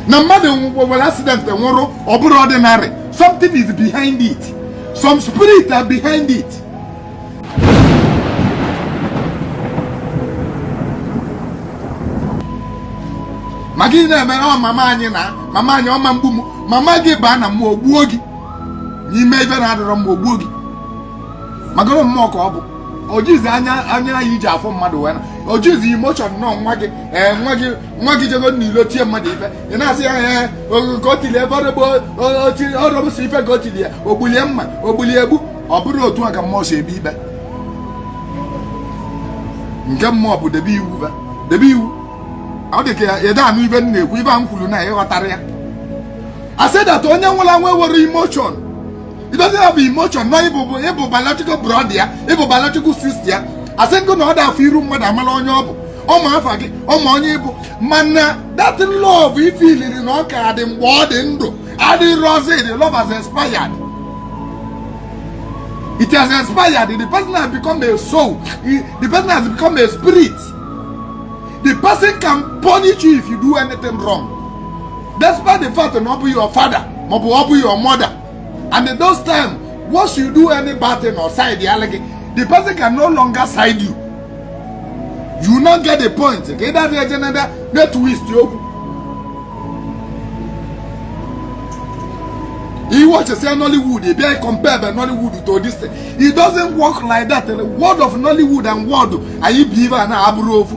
na mmadụ nwere accident nwụrụ ọ bụrọ ordinary something is behind it some spirit are behind it ma gị na-eme ọ mama anyị na mama anyị ọ ma egbu m mama gị baa na mmụọ gbuo gị i mee ife na-adịrọ mma o gbuo gị magoro mmụọ ka ọ bụ o jizi anya anya anyị ji afụ mmadụ wee na o jizi emotion nọ nwa gị ee nwa gị nwa gị jego n'ilo tie mmadụ ife ị na-asị ya ee ka o tili ebe ọrọbụsị ife ka o tili ya o gbuli ya mma o gbuli ya egbu ọ bụrọ otu a ka mmụọ si ekpe ikpe nke mmụọ bụ debe iwu fa debe iwu ọ dị ka ị da anụ ife m na-ekwu ife a m kwuru na ị ghọtara ya I said that onye nwụrụ anwụ enwerọ emotion It doesn't have emotion. No, ị bụ ị bụ biological brother ya, ị bụ biological sister ya. Asị m gị na ọ da afụ iru mmadụ amala onye ọ bụ. Ọ ma afa gị, ọ ma onye ị bụ. Mana that love ị feeliri na ọ ka dị mgbe ọ dị ndụ. Adịrọzi, the love has expired. It has expired. The person has become a soul. The person has become a spirit. The person can punish you if you do anything wrong. Despite the fact that na ọ bụ your father, na ọ bụ your mother. and in those time once you do any bad thing ọ side ya gị the person can no longer side you you no get the point ka ị dadị eje nada net twist okwu ị watchịsịa nollywood ị bịa compare nollywood to this thing it doesn't work like that world of nollywood and world anyị bi ebe a na abụrọ ofu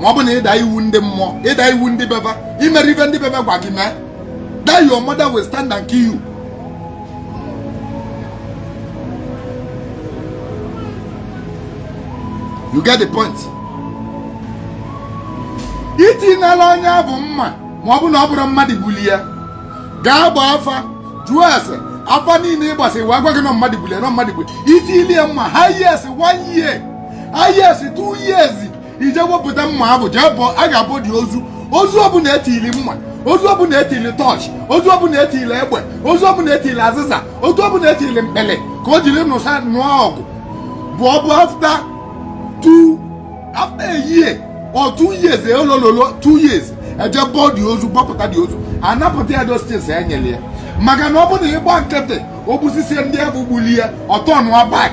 ma ọ bụ na ị da iwu ndị mmụọ ị da iwu ndị be fa i merọ ife ndị be fa gwa gị mee that your mother will stand and kill you you get the point i tinyela onye ahụ mma ma ọ bụ na ọ bụrụ mmadụ gbuli ya gaa gbaa afa jụọ ese afa niile ị gbasị wee gwa gị na mmadụ gbuli ya na mmadụ gbuli ya i tili ya mma highest one year highest two years i jee wepụta mma ahụ jee bọ a ga-abọ the ozu ozu ọbụla etili mma ozu ọbụla etili torch ozu ọbụla etili egbe ozu ọbụla etili azịza ozu ọbụla etili mkpele ka o jiri nụsa nụọ ọgụ bụ ọbụ after two after a year or two years olololo two years eje bọọ the ozu bọpụta the ozu anapụta ya those things enyere ya maka na ọ bụrụ na ị gba nkịtị o gbusisịa ndị ahụ gbuli ya ọ turnụa back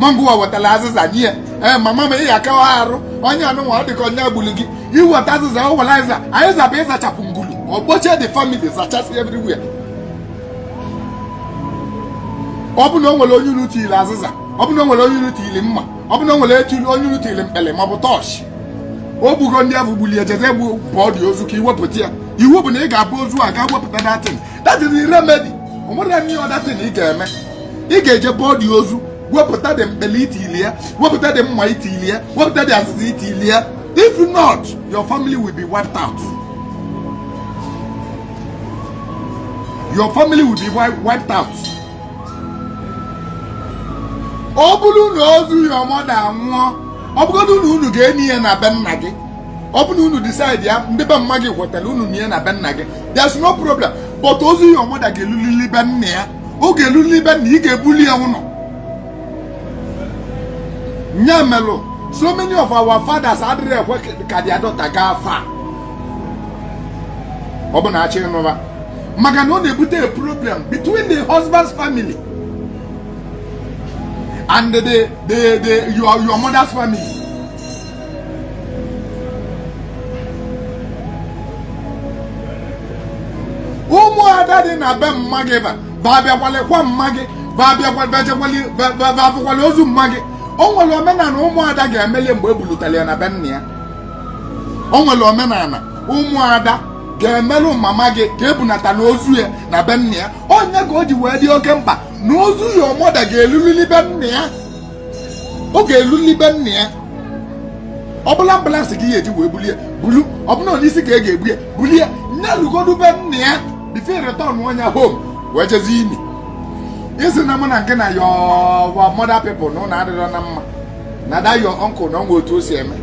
mangụwa wetara azịza nye ee mama m ị akawa arụ onye anụnwa ọ dịka onye gburu gị i weta azịza ọ were azịza anyị zaba ịzachapụ ngulu o gbuchie the family zachasị everywhere ọ bụ na o nwere onye unu tiri azịza ọ bụ na o nwere onye unu tiri mma ọ bụ na o nwere etiri onye unu tiri mkpele ma ọ bụ tọọchị o gbugo ndị ahụ gbulu ya jezie bọ bọọ the ozu ka iwepụta ya iwu bụ na ị ga-abọ ozu a ga wepụta that thing that is the remedy o nwerọ any other thing ị ga-eme ị ga-eje bọọ the ozu wepụta the mkpele i tili ya wepụta the mma i tili ya wepụta the azịza i tili ya if not your family will be wiped out your family will be wiped out ọ bụrụ na ozu your mother nwụọ ọ bụgodị na unu ga-eni ya na be nna gị ọ bụ na unu decide ya ndị be mma gị kwetara unu nie ya na be nna gị there's no problem but ozu your mother ga-elulili be nna ya ọ ga-elulili be nna ị ga-ebuli ya ụlọ nya melụ so many of our fathers adịrọ ekwe ka their daughter gaa far ọ bụ na a chọ ịnụ ba maka na ọ na-ebute a problem between the husband's family and the the the your, your mother's family ụmụada dị na be mma gị ba ba abịa kwalịkwa mma gị ba abịa kwalị ozu mma gị o nwere omenala ụmụada ga-emelụ ya mgbe e bulutere ya na be nna ya o nwere omenala ụmụada ga-emelụ mama gị ka e bunatana ozu ya na be nna ya ọ nya ka o ji wee dị oke mkpa na ozu your mother ga-elulili be nna ya ọ ga-elulili be nna ya ọ bụlụ ambulance ka a ya-eji wee bulie bulu ọ bụlụ n'isi ka a ga-ebu ya bulie nya lugodu be nna ya before e return nya home wee jezi ini ị sị na mụ na gị na your mother people unu adịrọ na mma na that your uncle na o nwe otu o si eme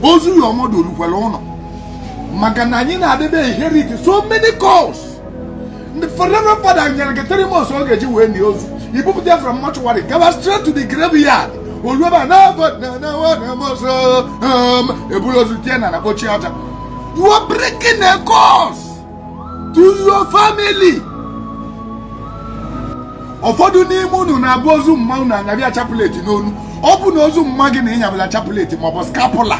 ozu your mother olukwere ụlọ maka na anyị na-adịbe inherit so many curse ndị reverend father nyere gị three months ọ ga-eji wee lie ozu i bupụta ya from mortuary gaba straight to the graveyard o lue eba na e buru ozu tie n'ana kpochie aja you are bringing a curse to your family ụfọdụ n'ime unu na-abụ ozu mma unu a nyaba ya chaplet n'onu ọ bụ na ozu mma gị na i nyabala chaplet maọbụ scapular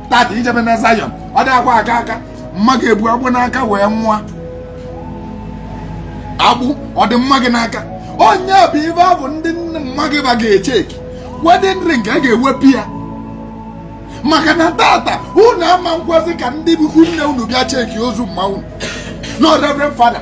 tata i jebe na Zion ọ dị akwa aka aka mma gị ebu agbụ n'aka wee nwụọ agbụ ọ dị mma gị n'aka ọ nya bụ ibe mbụ ndị nne mma gị ba ga-echeki wedding ring a ga-ewepụ ya maka na tata unu ama ekwezi ka ndị be ikwu nne unu bịa cheki ozu mma unu no reverend father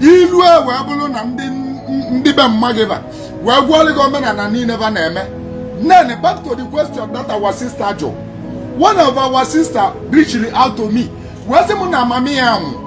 ilu e wee bụlụ na ndị be mma gị va wee gwalị gị omenana niine va na-eme then back to the question that our sister jụ one of our sister reached out to me wee sị m na mama ya anwụ